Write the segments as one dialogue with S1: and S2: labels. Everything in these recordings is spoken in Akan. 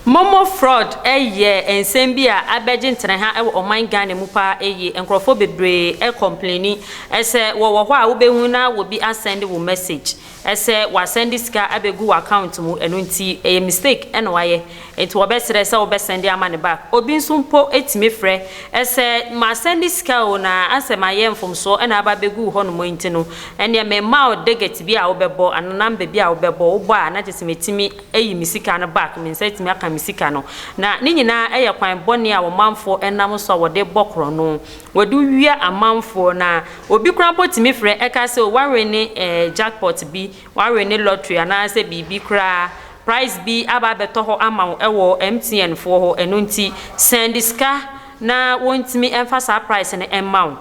S1: Momo fraud yɛ nsɛm bi a abɛgye nteneha wɔ ɔman Ghana mu paa yie. Nkorɔfoɔ bebree complaini. Sɛ wɔwɔ hɔ a wobɛhu na obi asɛnde wo message. Sɛ wasɛnde sika abegu w'account mu ɛno nti ɛyɛ mistake na wayɛ nti wɔbɛsrɛ sɛ wobɛsɛnde ama no back. Obi nso mpo tumi frɛ sɛ masɛnde sika o na asɛ mayɛ mfomsoɔ na aba abɛgu wo hɔnom nti no ɛneɛ memma wo digit bi a wobɛbɔ anaa number bi a wobɛbɔ, wobɔ a na kyerɛsɛ mɛtumi ayi me sika no back, me nsa atumi aka me sika no. Na ne nyinaa yɛ kwan bɔne a ɔmanfoɔ nam so a wɔde bɔ korɔno. Wadu wia amanfoɔ na obi koraa mpo tumi frɛ ɛka sɛ o wawene jackpot bi, wawene lottery anaasɛ biribi koraa, prize bi aba abɛtɔ hɔ ama wo ɛwɔ MTN foɔ hɔ, ɛno nti sɛnde sika na wɔntumi ɛmfa saa prize no ɛmma wo.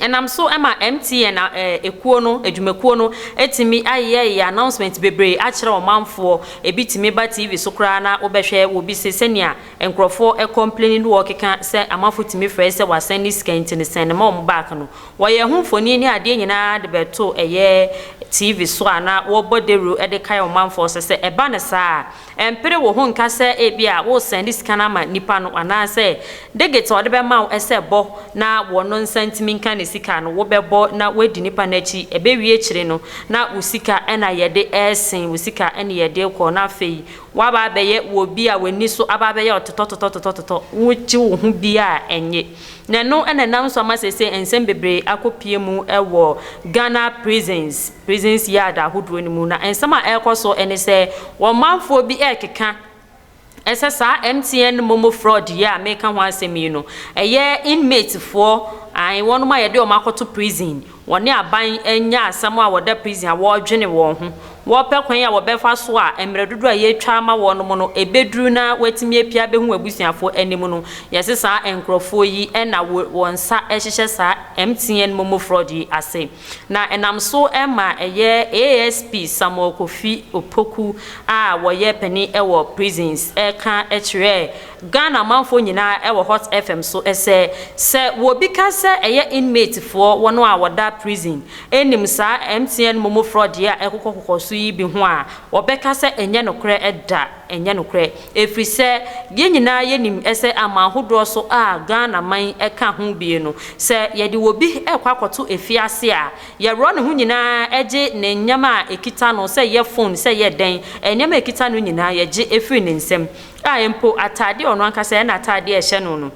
S1: Ɛnam so ɛma MTN ɛkuo no, adwumakuo no ɛtumi ayeyɛyeyɛ announcement bebree akyerɛ ɔmanfoɔ, ɛbi tumi ba TV so koraa na wobɛhwɛ wɔ bi se sɛnea. Nkurɔfo kɔmpleni ne wɔkeka sɛ amafo tumi frɛe sɛ wɔasan ne sika nti no sɛn ne ma wɔn back no. Wɔyɛɛ ho mfoni ne adeɛ nyinaa de bɛto ɛyɛ TV so a na wɔbɔ dawuru de kae ɔmanfoɔ so sɛ ɛba no saa a ɛmpere wo ho nka sɛ ebia woresɛn ne sika no ama nnipa no anaasɛ digit a wɔde bɛma wo sɛ bɔ na wɔn nsa ntumi nka ne sika no wobɛbɔ na woadi nnipa no akyi ɛbɛwie akyire no na wo sika na yɛde resen wo sika ne yɛde rekɔ na afei Woaba abɛyɛ wɔ obi a w'ani so aba abɛyɛ ɔtotɔtotɔtotɔtotɔ, wokyi wo ho bi a ɛnye. Na ɛno na ɛnam so ama seesei nsɛm bebree akɔpue mu wɔ Ghana prisons, prisons yard ahodoɔ no mu. Na nsɛm a ɛrekɔ so ne sɛ, wɔn manfoɔ bi rekeka sɛ saa MTN momo fraud yi a mereka ho asɛm yi no, ɛyɛ inmatefoɔ, ae, wɔnom a yɛde wɔn akɔto prison, Wɔne aban anya asɛm a wɔda prison a wɔredwene wɔn ho, wɔrepɛ kwan a wɔbɛfa so a mmerɛ dodoɔ a yɛatwa ama wɔnom no ɛbɛduru na wɔatumi apue abɛhu abusuafoɔ anim no, yɛse saa nkorɔfoɔ yi na wɔ wɔn nsa hyehyɛ saa MTN momo fraud yi ase. Na ɛnam so ma ɛyɛ ASP Samuel Kofi Opoku a wɔyɛ panin wɔ prisons ɛreka kyerɛɛ Ghana manfoɔ nyinaa wɔ hot fm so sɛ sɛ wɔbi ka sɛ ɛyɛ inmate foɔ wɔn a wɔda prison nim saa mtn momo fraud yi a ɛkokɔ kokɔ so yi bi ho a wɔbɛka sɛ ɛnyɛ nokorɛ ɛda ɛnyɛ nokorɛ ɛfiri sɛ yɛn nyinaa yɛnim sɛ aman hodoɔ so a Ghana man ka ho bie no sɛ yɛde wɔbi kɔ akɔto afiase a yɛworɔ ne ho nyinaa gye ne nneɛma a ɛkita no sɛ ɛyɛ phone sɛ ɛyɛ dɛn nneɛma ɛkita no nyinaa yɛgye firi ne nsam A Mpo atade a ɔno ankasa yɛ n'atade a ɛhyɛ no no,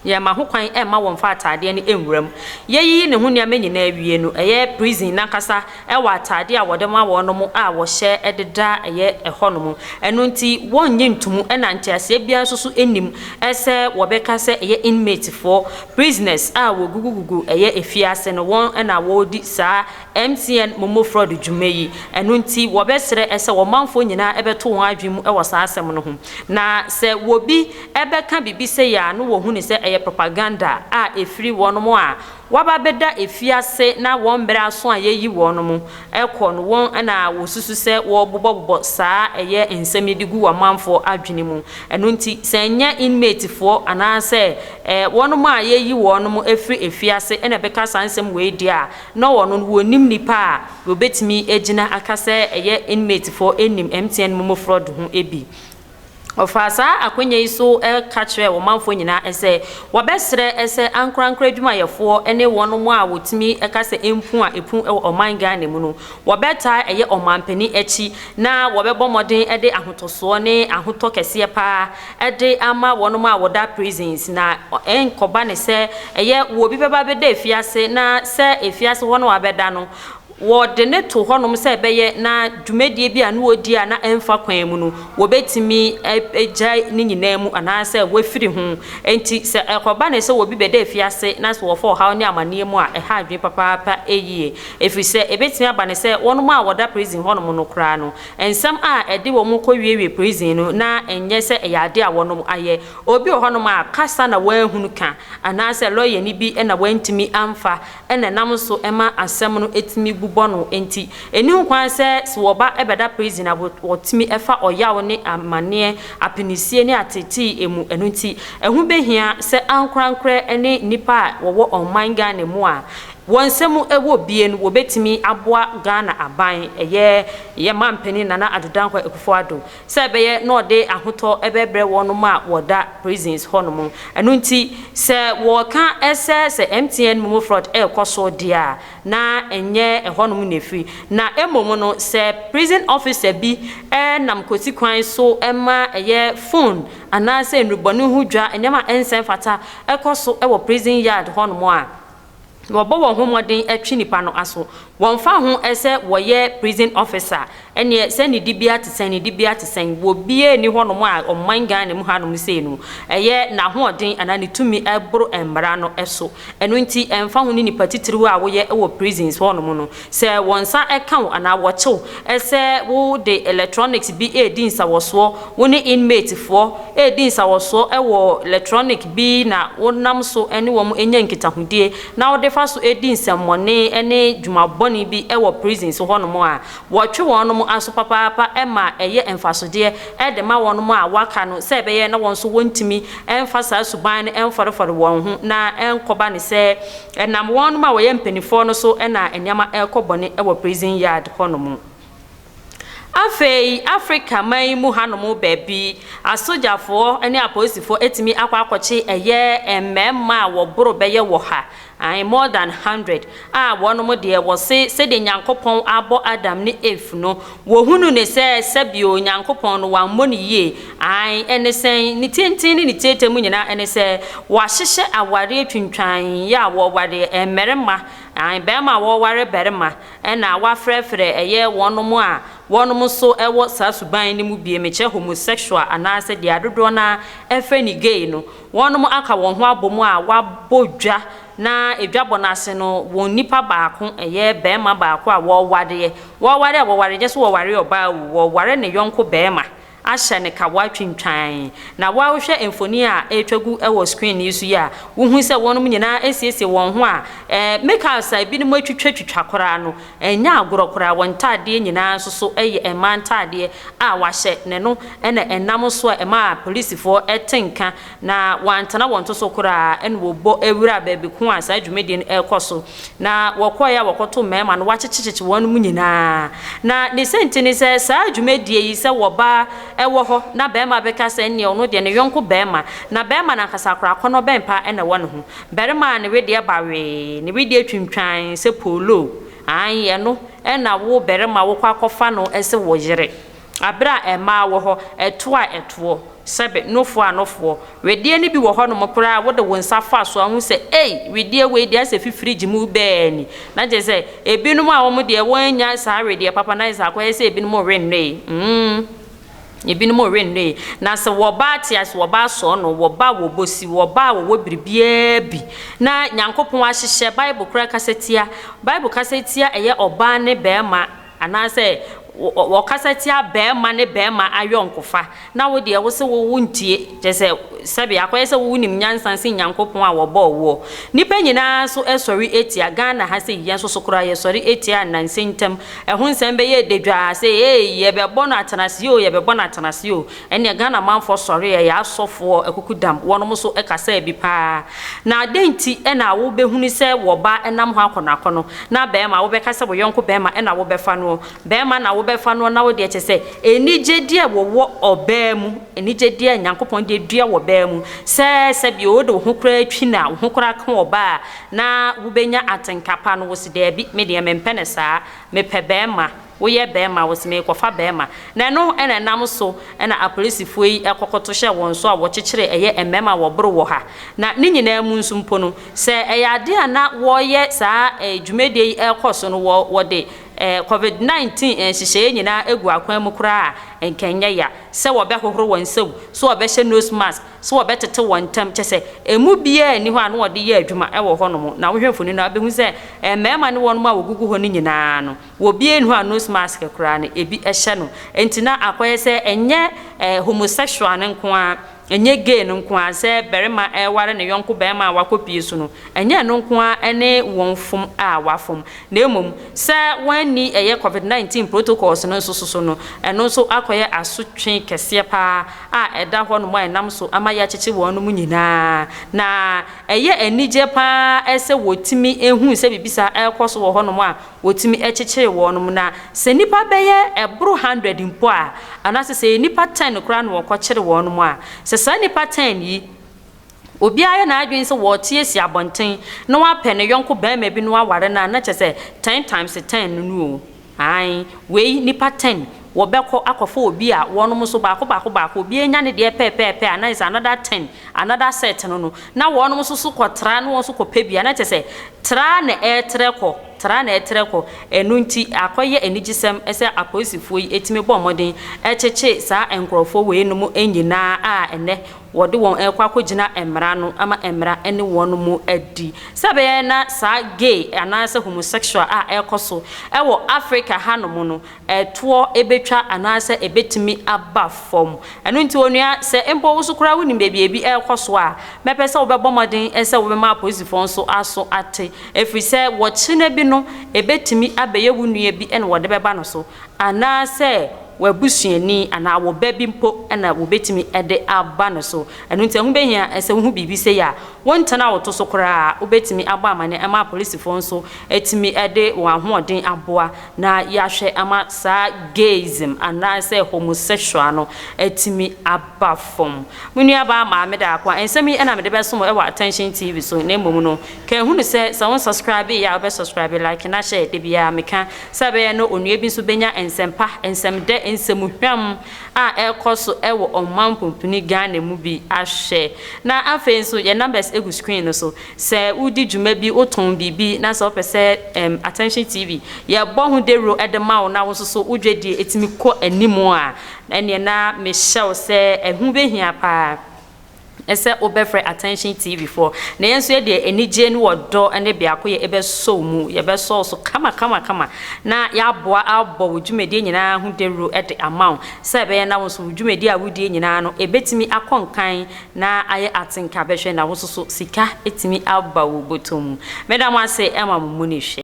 S1: yɛmma ho kwan mma wɔmfa atadeɛ no nwura mu. Yɛyiyi ne ho nneɛma nyinaa wie no, ɛyɛ prison no ankasa wɔ atade a wɔde ma wɔnom a wɔhyɛ de da ɛyɛ ɛhɔnom. Ɛno nti wɔnnye ntom na nteaseɛ biara nso so nnim sɛ wɔbɛka sɛ ɛyɛ inmatefoɔ, prisoners, a wɔgugugugu ɛyɛ afiase no wɔn na wɔredi saa MTN momo fraud dwuma yi, ɛno nti wɔbɛsrɛ sɛ ɔmanfoɔ nyinaa bɛto wɔn adwene mu wɔ saa asɛm no ho. Na sɛ wɔbi bɛka biribi sei a na wɔhu no sɛ ɛyɛ propaganda a ɛfiri wɔnom a wɔaba bɛda afiase na wɔn mmerɛ aso a yɛyi wɔnom kɔ no wɔn na wɔsusu sɛ wɔrebobɔbobɔ saa ɛyɛ nsɛm yi de gu ɔmanfoɔ adwene mu. Ɛno nti sɛ ɛnyɛ inmate foɔ anaasɛ wɔnom a yɛyi wɔnom firi afiase na ɛbɛka saa nsɛm wei deɛ a, Na wɔn no wɔnnim nnipa a wɔbɛtumi agyina aka sɛ ɛyɛ inmatefoɔ nnim MTN momo fraud ho bi. Ɔfaa saa akwanya yi so ka kyerɛɛ ɔmanfoɔ nyinaa sɛ wɔbɛsrɛ sɛ ankorankoro adwumayɛfoɔ ne wɔn a wɔtumi ka sɛ mpu a ɛpu wɔ ɔman Ghana mu no wɔbɛtaa ɛyɛ ɔmanpanin akyi na wɔbɛbɔ mmɔden de ahotɔsoɔ ne ahotɔ kɛseɛ pa ara de ama wɔnom a wɔda prisons na ɛnkɔba ne sɛ ɛyɛ wɔ obi bɛba abɛda afiase na sɛ afiase hɔ no abɛda no wɔde ne to hɔnom sɛ ɛbɛyɛ na dwumadie bi a ne wɔdi a na ɛmfa kwan mu no wɔbɛtumi agyae ne nyinaa mu anaasɛ wɔafiri ho nti sɛ ɛkɔba ne sɛ wɔ obi bɛda afiase na sɛ wɔfa ɔhaw ne amaneɛ mu a ɛha adwene papaapa yie ɛfiri sɛ ɛbɛtumi aba ne sɛ wɔnom a wɔda prison hɔnom no koraa no Nsɛm a ɛde wɔn kɔ wiewie prison no na ɛnyɛ sɛ ɛyɛ ade a wɔnom ayɛ. Obi wɔ hɔnom a kasa na wanhunu ka anaasɛ lɔyani bi na wantumi amfa na ɛnam so ma asɛm no tumi bu bɔ no nti. Ɛnni ho kwan sɛ sɛ wɔba bɛda prison a wɔtumi fa ɔyaw ne amanneɛ, apinisie ne ateetee mu. Ɛno nti ɛho bɛhia sɛ ankorankorɛ ne nnipa a wɔwɔ ɔman Ghana mu a Wɔ nsɛm mu ɛwɔ bie no wɔbɛtumi aboa Ghana aban, ɛyɛ yɛn manpanin Nana Addo Dankwa Akufo Addo, sɛ ɛbɛyɛ na ɔde ahotɔ ɛbɛbrɛ wɔnom a wɔda prisons hɔ nom. Ɛno nti sɛ wɔka sɛ sɛ MTN Momo Fraud ɛrekɔ so deɛ a, na ɛnyɛ ɛhɔnom na ɛfiri. Na mmom no sɛ prison officer bi nam kwati kwan so ma ɛyɛ phone anaasɛ nnurubɔne ho dwa, nneɛma a ɛnsɛ mfata ɛkɔ so wɔ prison yard hɔnom a, wɔbɔ wɔn ho mmɔden twe nnipa no aso. Wɔmfa ho sɛ wɔyɛ prison officer ɛneɛ sɛ ne dibea te sɛn ne dibea te sɛn wɔ biaa nni hɔnom a ɔman Ghana mu hanom sei no ɛyɛ n'ahoɔden anaa ne tumi boro mmara no so. Ɛno nti ɛmfa ho ne nnipa titiriw a woyɛ wɔ prisons hɔnom no, Sɛ wɔn nsa ka wo anaa wɔkye wo sɛ wode ɛlɛtrɔniks bi redi nsawɔsoɔ, wo ne inmate foɔ redi nsawɔsoɔ wɔ lɛtrɔnik bi na wonam so ne wɔn nya nkitahodie na wode fa so di nsɛmmɔne ne dwuma bɔne bi wɔ prisons hɔ nom a, wɔtwe wɔn nom aso papaapa ma ɛyɛ mfasodeɛ de ma wɔn a wɔaka no sɛ ɛbɛyɛ na wɔn nso wɔntumi mfa saa suban no mfɔrefɔre wɔn ho na ɛnkɔba no sɛ Ɛnam wɔnom a wɔyɛ mpaninfoɔ no so na nneɛma ɛrekɔ bɔne wɔ prison yard hɔ nom. Afei Africa man yi mu ha nom baabi asogyafoɔ ne apolisifoɔ atumi akɔ akɔkye ɛyɛ mmarima a wɔboro bɛyɛ wɔ ha, ae more than hundred, a wɔnom deɛ wɔse sɛdeɛ Nyankopɔn abɔ Adam ne Eve no, Wɔhunu no sɛ sɛbio Onyankopɔn no wammɔ no yie, aane, ɛne sɛn? Ne tenten ne ne tiatia mu nyina ɛne sɛ wɔahyehyɛ awareɛ twintwan yɛ a wɔware mmarima, aane, barima a wɔware barima, ɛna wɔafrɛfrɛ ɛyɛ wɔnom a wɔnom nso wɔ saa suban no mu bie, mekyerɛ homosexual anaa sɛ deɛ adodoɔ no ara ɛfrɛ no gay no, wɔnom aka wɔn ho abɔ mu a wɔabɔ dwa Ná adwabɔ no ase no, wɔn nipa baako, ɛyɛ barima baako a wɔwareɛ. Wɔware a wɔware, ɛnyɛ sɛ wɔware ɔbaa o, wɔware ne yɔnko barima ahyɛ no kawa twintwann. Na wo a wohwɛ mfoni a ɛretwa gu wɔ screen yi so yi a, wohu sɛ wɔnom nyinaa asiesie wɔn ho a, eh, me car sa ebinom atwitwatwitwa koraa no, ɛnyɛ agorɔ koraa, wɔn ntaadeɛ nyinaa nso so yɛ mmaa ntaadeɛ a wɔahyɛ, na ɛno na ɛnam so a ɛmaa polisifoɔ te nka. Na wɔantena wɔn to so koraa na wɔbɔ wuraa baabi ko a saa dwumadie no rekɔ so. Na wɔkɔeɛ a wɔkɔtoo mmarima no wɔakyekyekyekye wɔn mu nyinaa. Na ne sɛnti ne sɛ saa dwumadie yi sɛ wɔba wɔ hɔ na barima bɛka sɛ ɛnneɛ ɔno deɛ ne yɔnko barima na barima no ankasa koraa akɔnnɔ bɛn paa na ɛwɔ ne ho. Barima a ne wedeɛ ba wee, ne wedeɛ twintwan sɛ pooloo, aane ɛno na wo barima wokɔ akɔfa no sɛ wo yere. Bere a mmaa wɔ hɔ, ɛtoɔ a ɛtoɔ, sɛbe, nofoɔ a nofoɔ. Wedeɛ no bi wɔ hɔnom koraa a wode wo nsa fa so a wohu sɛ, ei, wedeɛ wei deɛ ayɛ sɛ fifirigye mu bɛɛ ni. Na kyerɛ sɛ, ebinom a wɔn deɛ wɔannya saa wedeɛ papa no ayɛ sɛ akɔyɛ sɛ ebinom rennɔe. Mm, ebinom rennɔe. Na sɛ wɔba ate ase, wɔba asɔɔ no, wɔba a wɔbɔ si, wɔba a wɔwɔ biribiara bi. Na Nyankopɔn ahyehyɛ, Bible koraa kasa tia, Bible kasa tia ɛyɛ ɔbaa ne barima, Anaasɛ wɔkasa tia barima ne barima ayɔnkofa, na wo deɛ wo se wo wontie, kyerɛ sɛ, sɛbe akɔyɛ sɛ wo wonim nyansa sen Nyankopɔn a wɔbɔɔ woɔ. Nnipa nyinaa so sɔre tia, Ghana ha sei, yɛn nso so koraa yɛsɔre tia nnansa ntam ɛho nsɛm bɛyɛ dadwaa sɛ eei yɛbɛbɔ no atenaseɛ oo, yɛbɛbɔ no atenaseɛ oo. Ɛneɛ Ghana manfoɔ sɔre ɛ, yaa sɔfoɔ akukudam, wɔnom nso kasaa bi paa. Na adɛn nti na wo bɛ hunu sɛ wɔ ba nam hɔ akɔ no akɔ no, na bɛɛma wo bɛ ka sɛ wo yɔnko bɛɛma na wo bɛ fa noɔ, bɛɛma na wo bɛ fa noɔ na wo deɛ kyɛ sɛ anigyedeɛ wɔ wɔ ɔbaa mu, anigyedeɛ Nyankopɔn deɛ dua wɔ baa mu, sɛ sɛ bi wo de wo ho koraa twi no a, wo ho koraa ka ɔbaa a, na wo bɛ nya atenka pa no, wo se daabi, me deɛ me mpɛ no saa, me pɛ bɛɛma. Woyɛ bɛɛma wose merekɔfa bɛɛma na ɛno na ɛnam so na apolisifoɔ yi kɔkɔto hyɛɛ wɔn so a wɔkyekyeree ɛyɛ mmɛɛma a wɔboro wɔ ha. Na ne nyinaa mu nso mpo no sɛ ɛyɛ adeɛ a na wɔreyɛ saa dwumadie yi rekɔ so no wɔ wɔde covid 19 nhyehyɛeɛ nyinaa agu akwan mu koraa a nka ɛnyɛ ya sɛ wɔbɛhohoro wɔn nsam, sɛ wɔbɛhyɛ nose mask, sɛ wɔbɛtete wɔn ntam kyɛ sɛ ɛmu biara nni hɔ a na wɔde yɛ adwuma wɔ hɔnom. Na wohwɛ mfoni no a wobɛhu sɛ mmɛɛma ne wɔnom a wɔgugu hɔ no nyinaa no. Wɔbue no a nose mask koraa no ebi hyɛ no. Enti na akɔyɛ sɛ ɛnyɛ eh, homosexual no nko ara, ɛnyɛ gay no nko ara, sɛ barima reware ne yɔnko barima a wakɔpue so no, ɛnyɛ ɛno nko ara ne wɔn fom a wɔafom, na mmom sɛ wɔanni ɛyɛ Covid 19 protocols no nso so no, ɛno nso akɔyɛ asotwe kɛseɛ pa ara a ɛda hɔnom a ɛnam so ama yɛakyekye wɔnom nyinaa. Na ɛyɛ anigyeɛ pa ara sɛ wɔtumi hu sɛ biribi saa rekɔ so wɔ hɔnom a Wotumi kyekyere wɔnom na sɛ nnipa bɛyɛ ɛboro hundred mpo a, anaasɛ sɛ ɛyɛ nnipa ten koraa na wɔkɔkyere wɔnom a, sɛ saa nnipa ten yi obiara yɛ n'adwene sɛ wɔrete asi abɔnten na wapɛ ne yɔnko barima bi na waware no a, na kyerɛ sɛ ten times ten no no o. Aane, wei nnipa ten. wɔbɛkɔ akɔfa obi a wɔnom nso baako baako baako, obiara nya ne deɛ pɛɛpɛɛpɛ a, na kyerɛ sɛ another ten, another set no no, na wɔnom nso so kɔtra na wɔn nso kɔpɛ bi a, na kyerɛ sɛ tra ara na ɛretrɛ kɔ, tra ara na ɛretrɛ kɔ. Ɛno nti, akɔyɛ anigyesɛm sɛ apolisifoɔ yi tumi bɔ mmɔden kyekye saa nkorɔfoɔ weinom nyina ara a ɛnnɛ wɔde wɔn rekɔ akɔgyina mmara no ama mmara ne wɔnom adi. Sɛ ɛbɛyɛ na saa gay anaasɛ homosexual a ɛrekɔ so wɔ Africa hanom no, ɛtoɔ bɛtwa anaasɛ ɛbɛtumi aba fam. Ɛno nti onua, sɛ mpo wo nso koraa wonim baabi a ebi rekɔ so a, mɛpɛ sɛ wobɛbɔ mmɔden sɛ wobɛma apolisifoɔ nso aso ate, ɛfiri sɛ wɔkyena bi no, ɛbɛtumi abɛyɛ wo nua bi na wɔde bɛba no so, anaasɛ w'abusuani anaa wo ba bi mpo na wɔbɛtumi de aba no so. Ɛno nti ɛho bɛhia sɛ wohu biribi sei a, wontena wo to so koraa, wobɛtumi abɔ amanneɛ ma apolisifoɔ nso atumi de wɔn ahoɔden aboa. Na yɛahwɛ ama saa gayism anaasɛ homosexual no atumi aba fam. Me nuabaa Maame Daakwa, nsɛm yi na mede bɛso mo wɔ Attention TV so, na mmom no, ka hu no sɛ, sɛ wonsɔskrabee a, wobɛsɔskrabe, like na hyɛ. Da biara meka sɛ ɛbɛyɛ na onua bi nso bɛnya nsɛm pa, nsɛm dɛ, nsɛm hwam a ɛrekɔ so wɔ ɔman pumpuni Ghana mu bi ahwɛ. Na afei nso, yɛn numbers gu screen no so. Sɛ woredi dwuma bi, wotɔn biribi, na sɛ wopɛ sɛ ɛɛm Attention TV yɛbɔ ho dawuro de ma wo na wo nso so wo dwadie tumi kɔ anim a, ɛneɛ na mehyɛ wo sɛ ɛho bɛhia pa ara sɛ wobɛfrɛ Attention TV foɔ. Na yɛn nso yɛ deɛ anigyeɛ ne ɔdɔ ne biakoyɛ ɛbɛsɔ wo mu, yɛbɛsɔ wo so kama kama kama na yɛaboa abɔ wo dwumadie nyinaa ho dawuro de ama wo sɛ ɛbɛyɛ na wo nso wo dwumadie a woredie nyinaa no ɛbɛtumi akɔ nkan na ayɛ atenka bɛhwɛ na wo soso sika atumi aba wo bɔtɔ mu meda mo ase ma mo mu ne hwɛ.